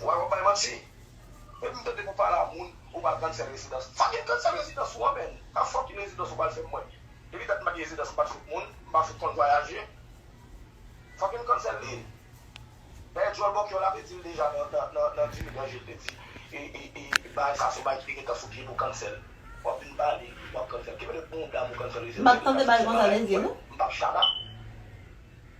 Why wap bay manti? Depi m tande pou pale a moun ou pral cancel residans. Sa gen cancel residans ou an menn? Ka fucking residans ou pral fè mwen? Depi dat m pa gen residans m pat fout moun, m pa fout konn vwayaje. Fucking cancel li. Dayè djòl bòkyò la te dil deja nan nan diri danje l te di e bagay sa se bagay ki te gentan fout li pou cancel. Wap vin pale wap cancel. Ki mete bonda m ou cancel residans. M pat tande bay manzè lèzye non. M pap shada.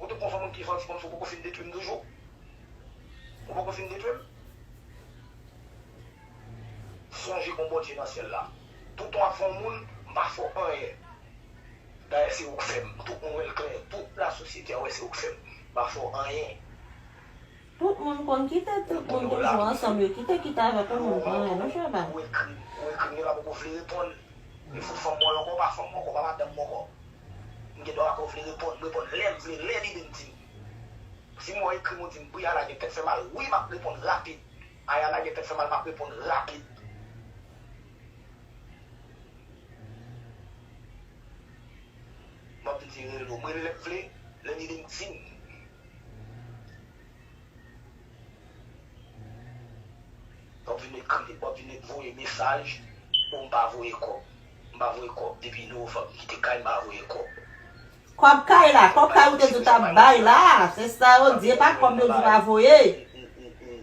Ou te konfonn moun ki vann sponsor poko fin detwim toujou? Ou poko fin detwim? Sonje gon Bondye nan syèl la. Tou tan avk yon moun, m pa fè w anyen. Dayè se ou k fè m. Tout moun wè l klè. Tout la sosyete a wè se ou k fè m. M pa fè w anyen. Tout moun konn kite tout moun toujou ansanm yo kite kite avèk yon moun pou anyen non cheval. Ou ekri m, ou ekri m gen lwa poko vle reponn. E fout fanm mwen ankò, pa fanm mwen ankò, pa madanm mwen ankò. M gen dwa pa vle reponn, m reponn lè m vle, lè lide m di m Si m wè w ekri m ou di m Briana gen tèt fè mal wi m ap reponn rapid Ayana gen tèt fè mal m ap reponn rapid. M ap vin di rele w, m rele lè m vle, lè lide m di m. Wap vin met kriye, wap vin met voye mesaj oh m pa voye kob, m pa voye kob depi novanb m kite kay m pa voye kob. Kob kay la, kob kay ou te di ou tap bay la, se sa yo di, e pa kob yo di pa voye.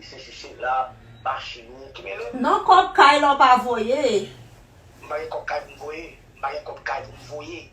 Sesi sela, machin ou, ki mele? Non kob kay la ou pa voye. M pa gen kob kay pou m voye, m pa gen kob kay pou m voye.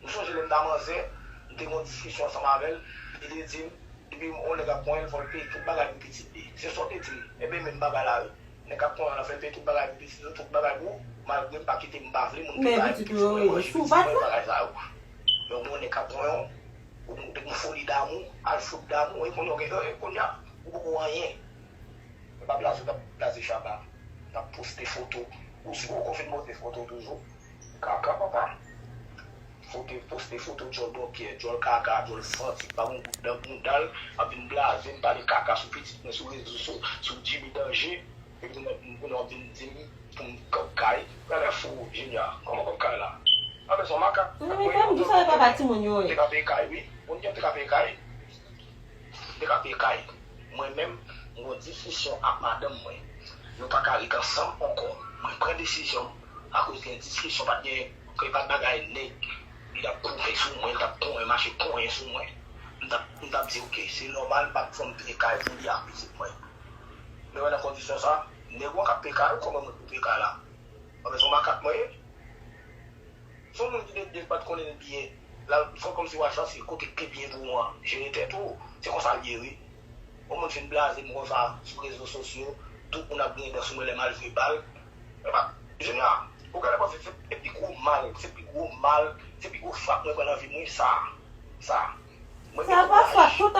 M sonje lè m ta manzè, m te gen yon diskisyon ansanm avè l, li te di m, depi yon nèg ap konyen l fò l peye tout bagay pou pitit li. Se sa w te di m. Enben menm bagay la wi. Nèg k ap konyen w lan fè l peye tout bagay pou pitit li, tout bagay pou ou, malgre m pa kite m pa vle moun vin bay pou pitit mwen manje, pitit mwen bagay sa yo. Men w gen yon nèg k ap konyen w, ou gen yon foli damou, al fout damou, e kounya w gen e kounya ou poko anyen. Epa blaze w t ap blaze Shabba, t ap poste foto, ou si w poko fin poste foto toujou. Kaka papa. Foute poste foto djòl bòkyè, djòl kaka, djòl santi ki pa gon gout nan boundal ap vin blaze m pale kaka sou pitit mwen sou rezo so sou Jimmy Danje epi kounye a kounye a wap vin dim pou m kanp kay Gade fou Junior kòman kanp kay la Anmè son makak Mwen menm pam di sa e papa timoun yo e. Te ka peye kay wi. Bon nèg te ka peye kay. Li raple kay mwen menm m gon diskisyon ak madanm mwen nou paka ret ansanm ankò mwen pran desizyon m akoz gen diskisyon pat gen e pat bagay nèg li tap koupe sou mwen li tap konyen mache konyen sou mwen m tap m tap di ok se nòmal m pap fèm peye kay pou li ak pitit mwen men nan kondisyon sa nèg ou an kap peye kay ou kòman mwen pou peye kay la wap wè son makak mwen ye. Son moun ki te byen pat konnenl byen lal fè komsi wal chache kote ki pi byen pou ou an jere tèt ou se konsal ye wi yon moun fin blazem konsa sou rezo sosyo tout moun ap griyen dan sou mwen lè mal jwe bal epa jèn an ou genlè panse se pi gwo mal se pi gwo mal se pi gwo frap mwen pran nan vim wi sa sa mwen gen kouraj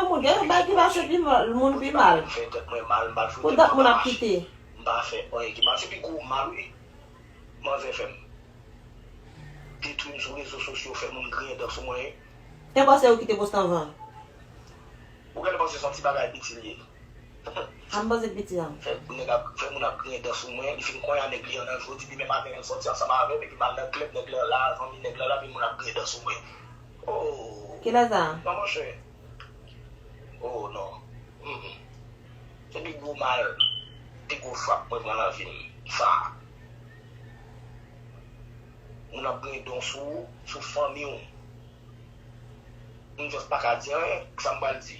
pou mwen fè moun pi mal pou mwen fè tèt mwen mal m pa jwe tèt mwen pa mache m pa fè anyen ki mal se pi gwo mal wi. Manzè fèm detwim sou rezo sosyo fè moun griyen dan sou mwen ui. Te panse ou kite post anvan. Ou gade panse son ti bagay piti li ye Sa m panse k piti an. Fè nèg ap fè moun ap griyen dan sou mwen li fin konnya nèg li an nan jodi demen maten lèm sòti ansanm avèm epi mal nan klèb nèg lan la zanmi nèg lan la epi moun ap griyen dan sou mwen ooh Kilè sa? Nan monchè. Oh non. Se pi gwo mal, pi gwo frap mwen pran nan vim sa. Moun ap gen don sou ou, sou fanmiw. M just paka di anyen, kisa m pral di?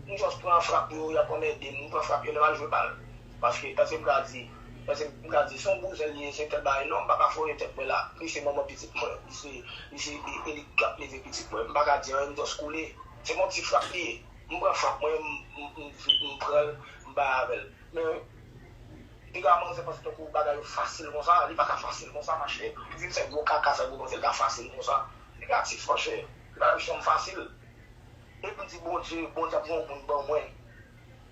M just pran frap yo, yap anmèdem, m pran frap yo lè map jwe bal. Paske eske m ka di, eske m ka di, se yon bouzen li ye, se tèt bagay, non m pa ka foye tèt mwen la, li se manman pitit mwen, li se, li se e li k ap leve pitit mwen, m pa ka di anyen, m just koule, se m yon ti frap li ye, m pran frap mwen, m, m, m pran l, m bay avè l. Men, li ka manzè panse tankou bagay yo fasil konsa, li pa ka fasil konsa ma chè, pou vin fè gwo kaka sa pou panse l ka fasil konsa, negatif ma chè, li pa janm fasil. Epi m di Bondye, Bondye ap gen yon moun ban mwen.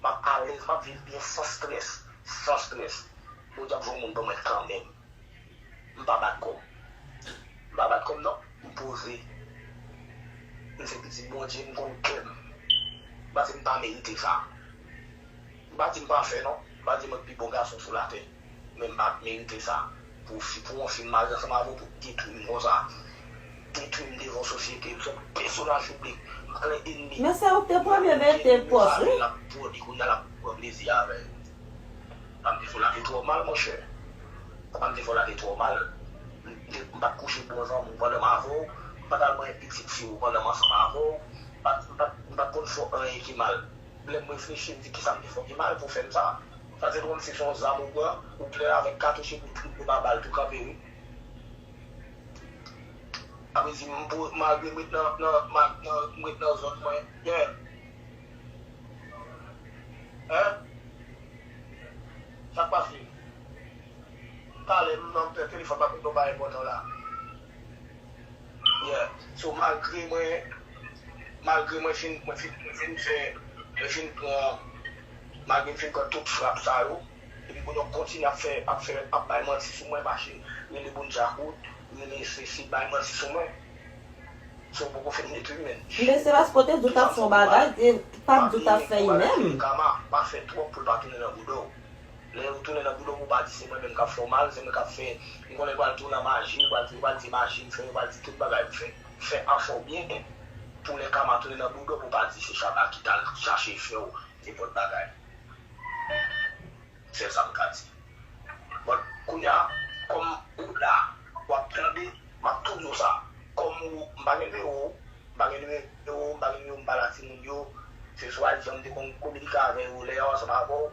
Map alèz map viv byen san strès san strès Bondye ap voye moun ban mwen kanmenm m pa bat kòm m pa bat kòm non m poze m se pitit Bondye m konn kèm m pa di m pa merite sa m pa di m pafè non m pa di mwen k pi bon gason sou latè. Menm map merite sa. Pou si pou yon fim marye ansanm avèw pou detwim konsa. Detwim devan sosyete. M son pèsonaj piblik. M plen enmi. Men sa ou te premye mete post wi. Lap body kounya lap pran plezi avèl. Pam te fè la te twò mal monchè. Pam te fè la te twò mal. M pat kouche bon zanmiw pandanm avèw. M pat al manyen pitit fiw pandanm ansanm avèw. M pat konn fè anyen ki mal. Lè m reflechi, m di kisa m te fè ki mal pou fè m sa. Sa se twòp m si se yon zam ou pran, ou plen avèk katouch epi ou tripe pa bal tou kanpe wi. Sa vle di m pou malgre m ret nan nan m ret nan zòn mwen gen Hein? Sak pase? Talè m nan telefòn m ap reponn yon bagay enpòtan la. Yeah so malgre mwen malgre mwen fin mwen fin mwen fin fè mwen fin pran malgre m fin pran tout frap sa yo epi moun yo kontinye ap fè ap fè ap bay manti sou mwen mache rele moun djakout rele sesi bay manti sou mwen so poko fin detwi m menn Men se paske w te di w t ap fè yon bagay, e pa di w t ap fè li menm. Pa bliye karma pa fè twòp pou l pa tounen nan bouda w. Lè ou tounen nan boudon ou pa di se mwen menm kap fè w mal, se mwen kap fè, m konnen yo pral tou nan maji, yo pral di yo pral di maji m fè, yo pral di tout bagay m fè. Fè enfò byen pou lè kama tounen nan boudon pou pa di se Shabba ki tal chache fè w nenpòt bagay. Sèl sa m ka di. But kounya kòm ou la, wap tande, map tou di w sa, kòm ou m pa gen nimewo w, m pa gen nimewo w, m pa gen nimewo m pa la timoun yo, se swa jan m te konn kominike avè yo lè yo ansanm avè w,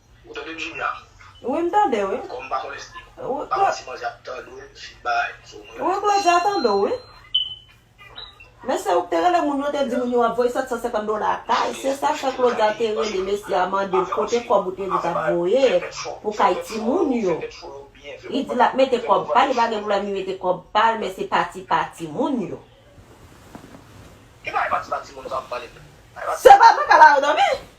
Ou tande m Junia? Wi m tande wi. Kòm m pa konnen si papa ti manzè ap tande w si bay info mwen. Wi Claudia ap tande w wi. Mesye ou k te rele moun yo te di moun yo ap voye 750 dola ak kay se sa k fè Claudia te rele mesye a mande l kote kòb ou te di tap voye pou kay timoun yo. Li di lap mete kòb pa li pa gen pwoblèm li mete kòb pa l men se pati pa timoun yo. Ki bagay pati pa timoun sa wap pale la? Se pa nan kay la yo domi?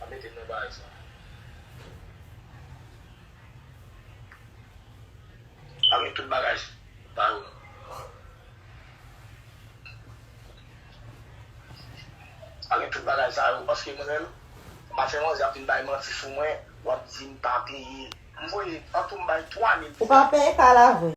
Pa mete m nan bagay sa. Pa met tout bagay sa yo nan. Pa met tout bagay sa yo paske mwen menm m pa fè manzè ap vin bay manti sou mwen wap di m pa peye. M voye an tou m bay 3000 pou sa. Ou pa peye kay la vre.